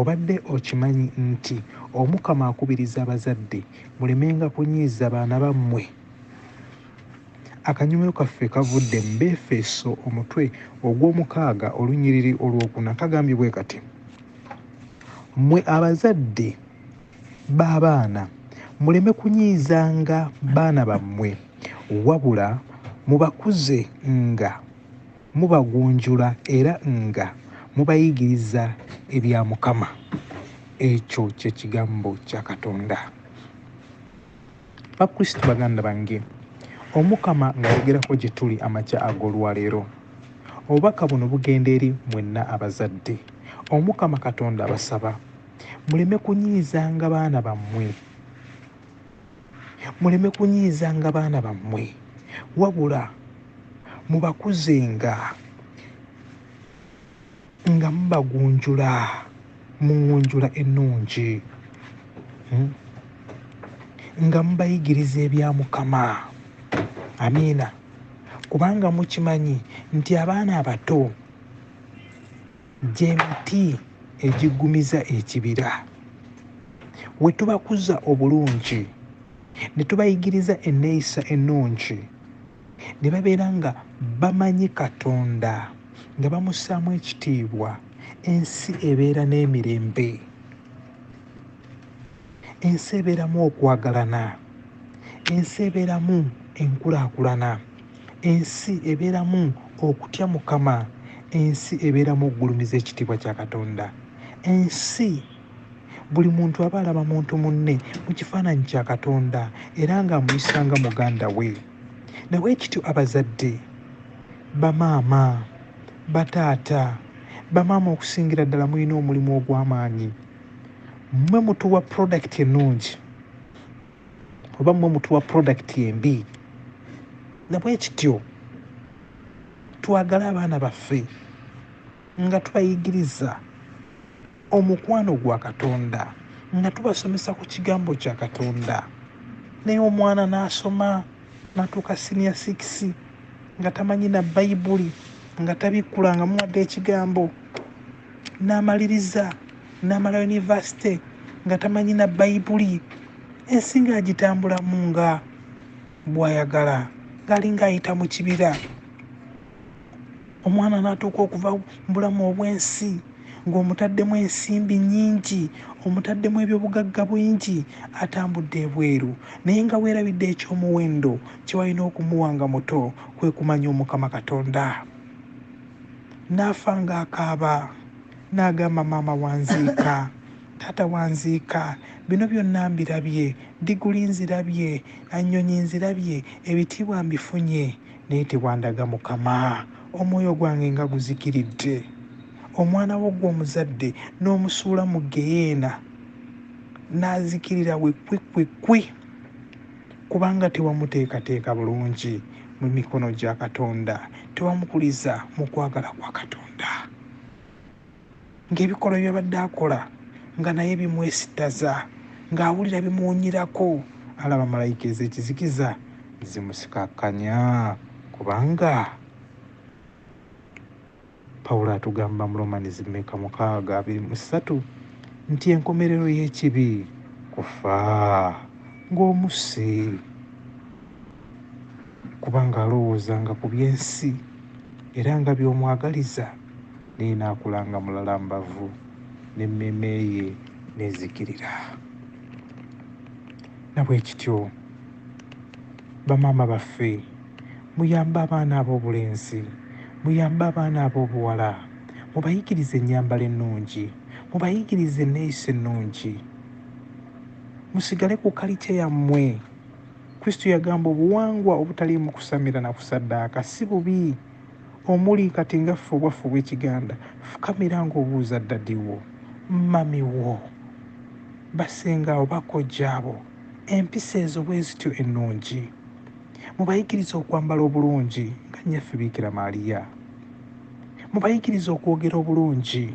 Obadde okimanyi nti Omukama akubiriza abazadde mulemenga kunyiiza baana ba mmwe? Akanyomero kaffe kavudde mu Beefeso omutwe ogw'omukaaga olunyiriri olw'okuna kagambye bwe kati, Mmwe abazadde b'abaana muleme kunyiizanga baana bammwe, wabula mubakuze nga. Mubagunjula era nga mubayigiriza ebya Mukama. Ekyo kye Kigambo kya Katonda. Bakristo baganda bange, Omukama ng'ayogerako gye tuli amakya ag'olwaleero. Obubaka buno bugenda eri mwenna abazadde. Omukama Katonda abasaba muleme kunyiizanga baana bammwe. muleme kunyiizanga baana bammwe wabula mubakuzenga nga mubagunjula mu ngunjula ennungi hmm? nga mubayigiriza ebya mukama amiina kubanga mukimanyi nti abaana abato Gye miti egiggumiza ekibira. We tubakuza obulungi ne tubayigiriza enneeyisa ennungi ne babeera nga bamanyi Katonda nga bamussaamu ekitiibwa, ensi ebeera n'emirembe. Ensi ebeeramu okwagalana. Ensi ebeeramu enkulaakulana. Ensi ebeeramu okutya Mukama. Ensi ebeeramu okugulumiza ekitiibwa kya Katonda. Ensi buli muntu aba alaba muntu munne mu kifaananyi kya Katonda era ng'amuyisa nga muganda we. Ne bwe kityo abazadde, bamaama, bataata, bamaama okusingira ddala mulina omulimu ogw'amaanyi. Mmwe mutuwa pulodakiti ennungi. oba mwe mutuwa product embi nabwekityo twagale abaana baffe nga tubayigiriza omukwano gwa katonda nga tubasomesa ku kigambo kya katonda naye omwana n'asoma natuuka siniya sikisi nga tamanyi na bayibuli nga tabikkula nga muwadde ekigambo n'amaliriza n'amala yunivasite nga tamanyi na bayibuli ensi ng'agitambulamu nga bw'ayagala ng'alinga ayita mu kibira omwana n'atuuka okuva mu bulamu obw'ensi ng'omutaddemu ensimbi nnyingi omutaddemu ebyobugagga bwingi atambudde ebweru naye nga weerabidde eky'omuwendo kye walina okumuwa nga muto kwe kumanya omukama katonda n'afa ng'akaaba n'agamba maama wanziika, taata wanziika, bino byonna mbirabye, ddiguli nzirabye, annyonyi nzirabye, ebitiibwa mbifunye naye tewandaga Mukama, omwoyo gwange nga guzikiridde, omwana wo gw'omuzadde n'omusuula mu ggeyeena n'azikirira we kkwi kkwi kkwi. kubanga tewamuteekateeka bulungi mu mikono gya Katonda, tewamukuliza mu kwagala kwa Katonda. Ng'ebikolwa bye yabadde akola nga naye bimwesittaza, ng'awulira bimuwunyirako, alaba malayika ez'ekizikiza zimusikakkanya kubanga Pawulo atugamba mu Romans mmeka mukaaga abiri mu ssatu nti enkomerero y'ekibi kufa ng'omusi kubanga alowoozanga ku by'ensi era nga by'omwagaliza naye n'akula nga mulala mbavu n'emmeeme ye n'ezikirira na bwe kityo bamaama baffe Muyambe abaana ab'obulenzi, muyambe abaana ab'obuwala, mubayigirize ennyambala ennungi, mubayigirize enneeyisa ennungi. Musigale ku kalitya yammwe. Kristo yagamba obuwangwa obutaliimu kusamira na kusaddaaka si bubi. Omuli kati nga ffe obwaffe obw'ekiganda, fukamira ng'obuuza ddadi wo, mmami wo, bassenga bo, bakojja bo, empisa ezo bwe zityo ennungi. Mubayigirize okwambala obulungi nga nnyaffe Biikira Maaliya. Mubayigirize okwogera obulungi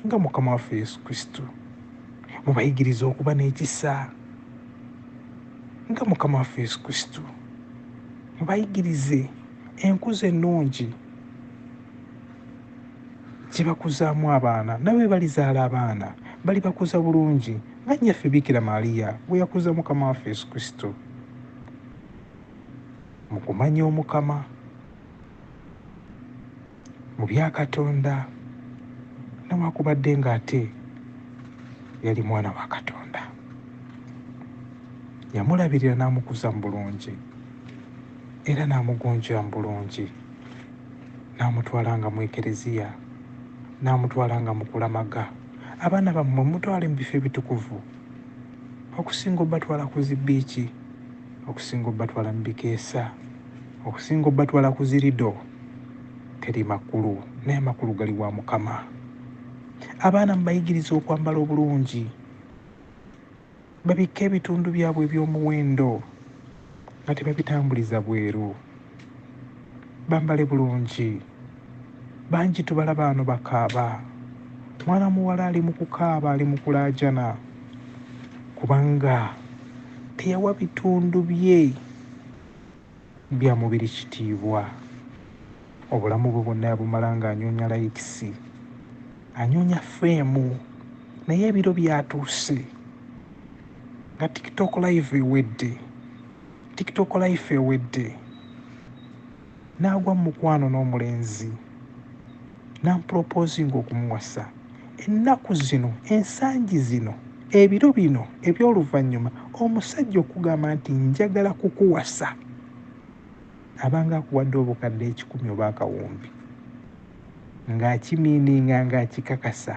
nga Mukama waffe Yesu Kristo. Mubayigirize okuba n'ekisa nga Mukama waffe Yesu Kristo. Mubayigirize enkuza ennungi gye bakuzaamu abaana nabo bwe balizaala abaana balibakuza bulungi nga nnyaffe Biikira Maaliya bwe yakuza Mukama waffe Yesu Kristo. mu kumanya omukama mu bya katonda newakubadde ng'ate yali mwana wa katonda yamulabirira n'amukuza mu bulungi era n'amugunjira mu bulungi n'amutwala nga mu ekereziya n'amutwala nga mukulamaga abaana bammwe mutwale mu bifo ebitukuvu okusinga obatwala ku zi biiki okusinga obatwala mu bikeesa okusinga obatwala ku zirido teri makulu naye amakulu gali wa mukama abaana mubayigiriza okwambala obulungi babikka ebitundu byabwe eby'omuwendo nga tebabitambuliza bweru bambale bulungi bangi tubalaba ano bakaaba mwana muwala ali mu kukaaba ali mu kulaajana kubanga teyawa bitundu bye bya mubiri kitiibwa obulamu bwe bwonna yabumala ng'anyoonya layikisi anyoonya feemu naye ebiro byatuuse nga tiktok live ewedde tiktok life ewedde n'agwa mu mukwano n'omulenzi nampropoozinga okumuwasa ennaku zino ensangi zino ebiro bino eby'oluvannyuma omusajja okugamba nti njagala kukuwasa abanga akuwadde obukadde ekikumi oba akawumbi ng'akimiininga ng'akikakasa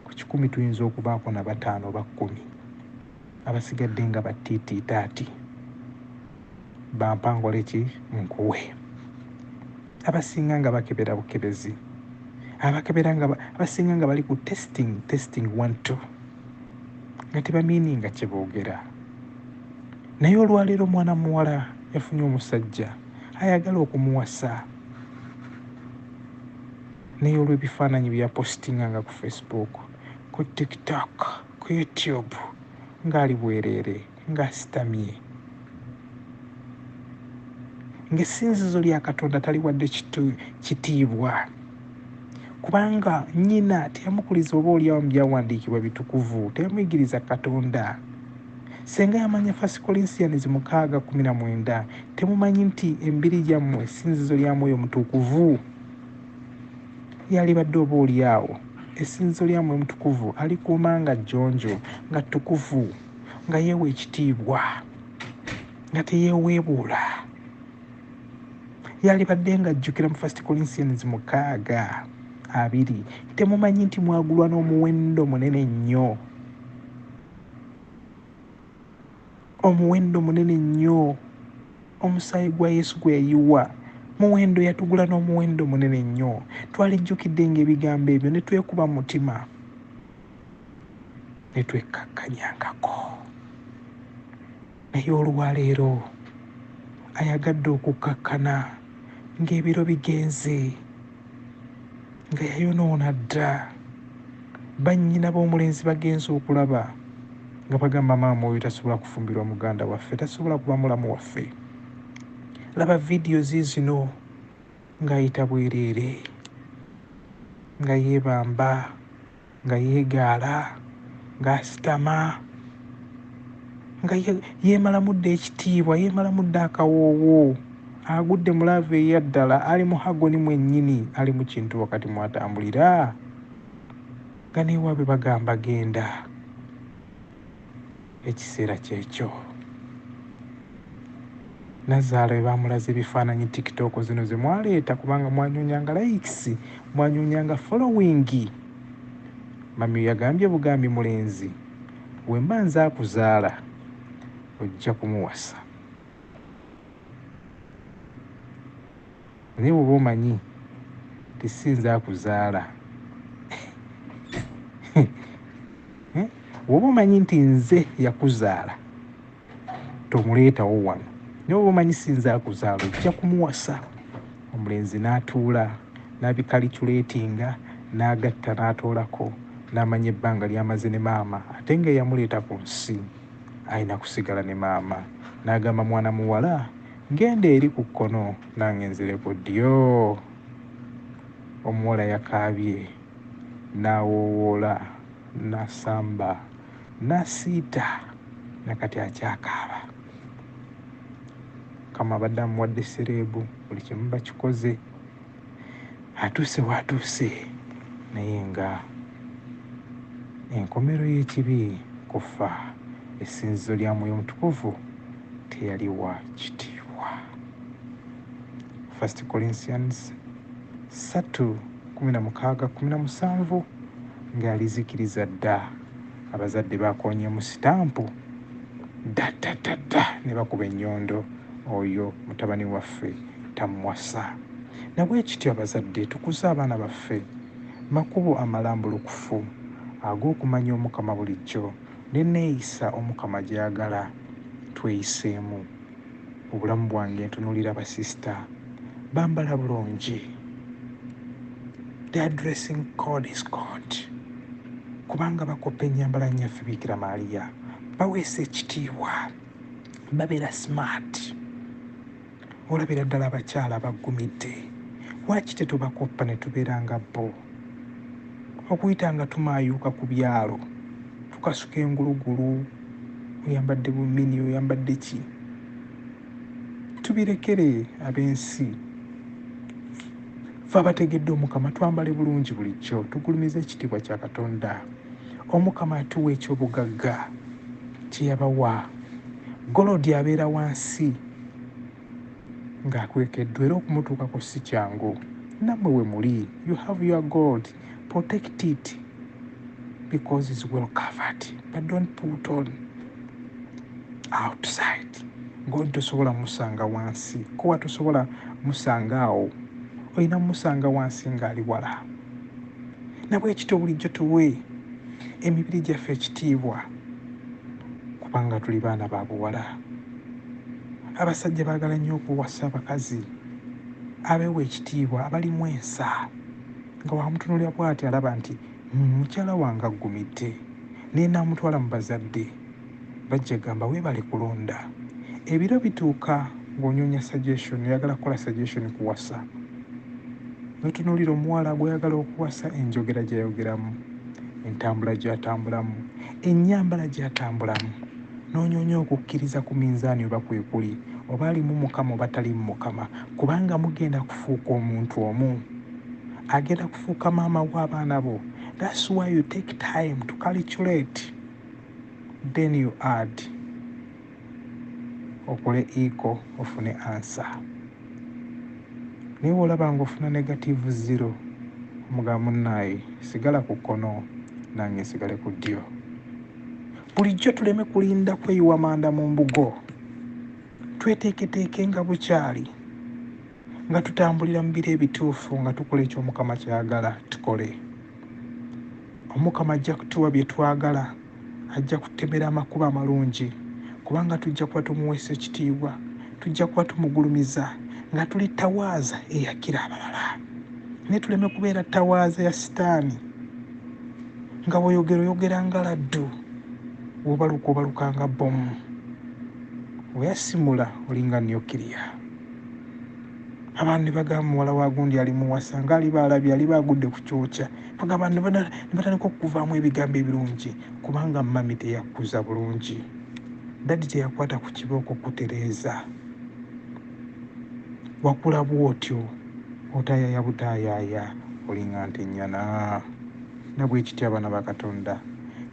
Ku kikumi tuyinza okubaako na bataano oba kkumi, abasigadde nga ba tiitiitaati, bampa nkole ki? Nkuwe. Abasinga nga bakebera bukebezi, abakebera nga abasinga nga bali ku testing, testing one two, nga tebamiininga kye boogera. Naye olwaleero mwana muwala yafunye omusajja ayagala okumuwasa. naye olw'ebifaananyi bye yapositinganga ku Facebook, ku TikTok, ku YouTube ng'ali bwereere ng'asitamye ng'essinzizo lya Katonda taliwadde kitiibwa kubanga nnyina teyamukuliza oba olyawo mu byawandiikibwa bitukuvu teyamuyigiriza katonda senga yamanya fasi kolinsiyanis mukaaga kumi na mwenda temumanyi nti embiri gyammwe esinzizo lya mwoyo mutukuvu yalibadde oba oli awo essinzizo lya mwoyo mutukuvu alikuuma nga jjonjo nga ttukuvu nga yeewa ekitiibwa nga teyeeweebuula yalibadde nga ajjukira mu first corinthians mukaaga abiri temumanyi nti mwagulwa n'omuwendo munene nnyo Omuwendo munene nnyo omusaayi gwa Yesu gwe yayiwa muwendo yatugula n'omuwendo munene nnyo. Twalijjukidde ng'ebigambo ebyo ne twekuba mu mutima ne twekkakkanyangako. Naye olwaleero ayagadde okukkakkana. ng'ebiro bigenze nga yayonoona dda bannyina b'omulenzi bagenze okulaba nga bagamba maama oyo tasobola kufumbirwa muganda waffe tasobola kuba mulamu waffe laba vidiyo ziizino ng'ayita bwereere nga yeebamba nga yeegaala ng'asitama nga yeemalamu dda ekitiibwa yeemalamu dda akawoowo agudde mu laavu eya ddala ali mu hagoni mwennyini ali mu kintu wakati mw'atambulira nga neewaabwe bagamba genda Ekiseera kyekyo Nazaala bebamulaze ebifaananyi tiktok zino zemwaleeta kubanga mwanyonyanga likes mwanyonyanga following Mami yagambye bugambi mulenzi wemba nze akuzaala ojja kumuwasa Naye woba omanyi nti si nze akuzaala eh? woba omanyi nti nze yakuzaala tomuleetawo wano naye woba omanyi si nze akuzaala ojja kumuwasa omulenzi n'atuula n'abikaliculetinga n'agatta n'atoolako n'amanya ebbanga lyamaze ne maama ate nga eyamuleeta ku nsi alina kusigala ne maama n'agamba mwana muwala Genda eri ku kkono nange nzire ku ddyo. Omuwala yakaabye n'awoowoola n'asamba n'asiita na kati akyakaaba. Mukama abadde amuwadde sereebu buli kimu bakikoze. atuuse w'atuuse naye nga enkomero y'ekibi kuffa, essinzizo lya Mwoyo Mutukuvu teyaliwa kitiibwa. 1 Corinthians 3:16-17 ng'alizikiriza dda. Abazadde baakoonyeemu sitampu ddattattattta ne bakuba ennyondo, Oyo mutabani waffe tamuwasa. Na bwe kityo abazadde tukuze abaana baffe makubo amalambulukufu ag'okumanya Omukama bulijjo, n'enneeyisa Omukama gy'ayagala tweyiseemu. obulamu bwange ntunulira ba sister bambala bulungi their dressing code is god kubanga bakoppa enyambala nyaffe bikira maaliya baweesa ekitiibwa babeera smart olabira ddala abakyala baggumidde lwaki tetubakoppa ne tubeera nga bo okuyita nga tumaayuuka ku byalo tukasuka engulugulu oyambadde bumini oyambadde ki tubirekere ab'ensi fe abategedde omukama twambale bulungi bulijjo tugulumiza ekitiibwa kya katonda omukama atuwa ekyobugagga kyeyabawa golodi abeera wansi ng'akwekeddwa era okumutuukako si kyangu nammwe we muli you have your gold protect it because is well covered but don't put on outside gold tosobola musanga wansi kuba tosobola musanga awo olina musanga wansi ng'ali wala nabwekityo bulijjo tuwe emibiri gyaffe ekitiibwa kubanga tuli baana ba buwala abasajja baagala nnyo okuwasa abakazi abeewa ekitiibwa abalimu ensa nga wamutunulira bwati alaba nti hmm, mukyala wange aggumidde naye naamutwala mu bazadde bajja gamba weebale kulonda ebiro bituuka ng'onyonya suggestion oyagala kukola suggestion kuwasa notunuulira omuwala gwoyagala okuwasa enjogera gyeyogeramu entambula gyatambulamu enyambala gyatambulamu N'onyoonya okukkiriza ku minzaani oba kwekuli, oba ali mu Mukama oba tali mu Mukama, kubanga mugenda kufuuka omuntu omu. Agenda kufuuka maama wa baana bo. That's why you take time to calculate then you add okole iko ofune ansa naye olaba nga ofuna negative zero omuga munaaye sigala ku kkono nange sigale ku ddyo Bulijjo tuleme kulinda kweyiwa manda mu mbugo, tweteeketeeke nga bukyali, nga tutambulira mu biro ebituufu, nga tukola ekyo Omukama ky'ayagala tukole. Omukama ajja kutuwa bye twagala, ajja kututemera amakubo amalungi, kubanga tujja kuba tumuweesa ekitiibwa, tujja kuba tumugulumiza nga tuli ttawaaza eyakira abalala, naye tuleme kubeera ttawaaza ya sitaani. nga bwoyogera oyogera nga laddu wobaluka obaluka nga bomu weyasimula olinga nukiriya abantu nebagamba muwala wa gundi ali muwasa nga aliba alabye aliba agudde ku kyokya bagamba nebatandika okukuvaamu ebigambo ebirungi kubanga mami teyakkuza bulungi dadi teyakwata ku kibooko kutereeza wakula bwotyo otayaya butayaya olinga nte nyana nabwekityo abana bakatonda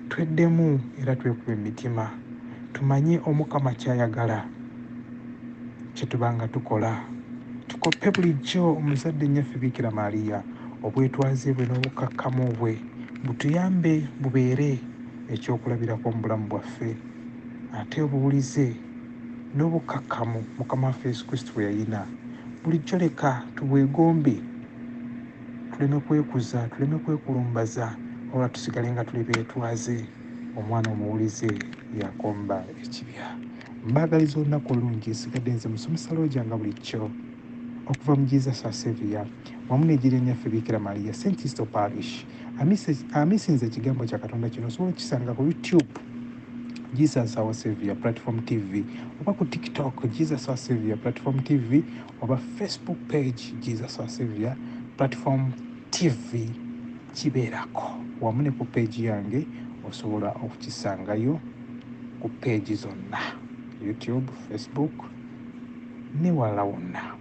twedemu era twekube emitima tumanye omukama kyayagala kyetubanga tukola tukope bulijjo omuzadde nyaffe bikira maria obwetwaze bwe nobukakkamu bwe butuyambe bubeere ekyokulabirako mubulamu bwaffe ate obuwulize n'obukkakkamu Mukama waffe Yesu Kristo bwe yalina. Bulijjo leka tubwegombe, tuleme kwekuza, tuleme kwekulumbaza, wabula tusigale nga tuli beetwaze. Omwana omuwulize y'akomba ekibya. Mbaagaliza olunaku olulungi. Nsigadde nze musomesa Looja nga bulijjo okuva mu Jesus wa Savior wamu n'ejjirya nnyaffe Biikira Maria, St. Isto Parish. Amisinza ekigambo kya Katonda kino osobola okukisanga ku YouTube. Jesus our savior platform tv oba ku tiktok jesus our savior platform tv oba facebook page jesus our savior platform tv kibeerako wamu ne ku peegi yange osobola okukisangayo ku peegi zonna youtube facebook newalala wonna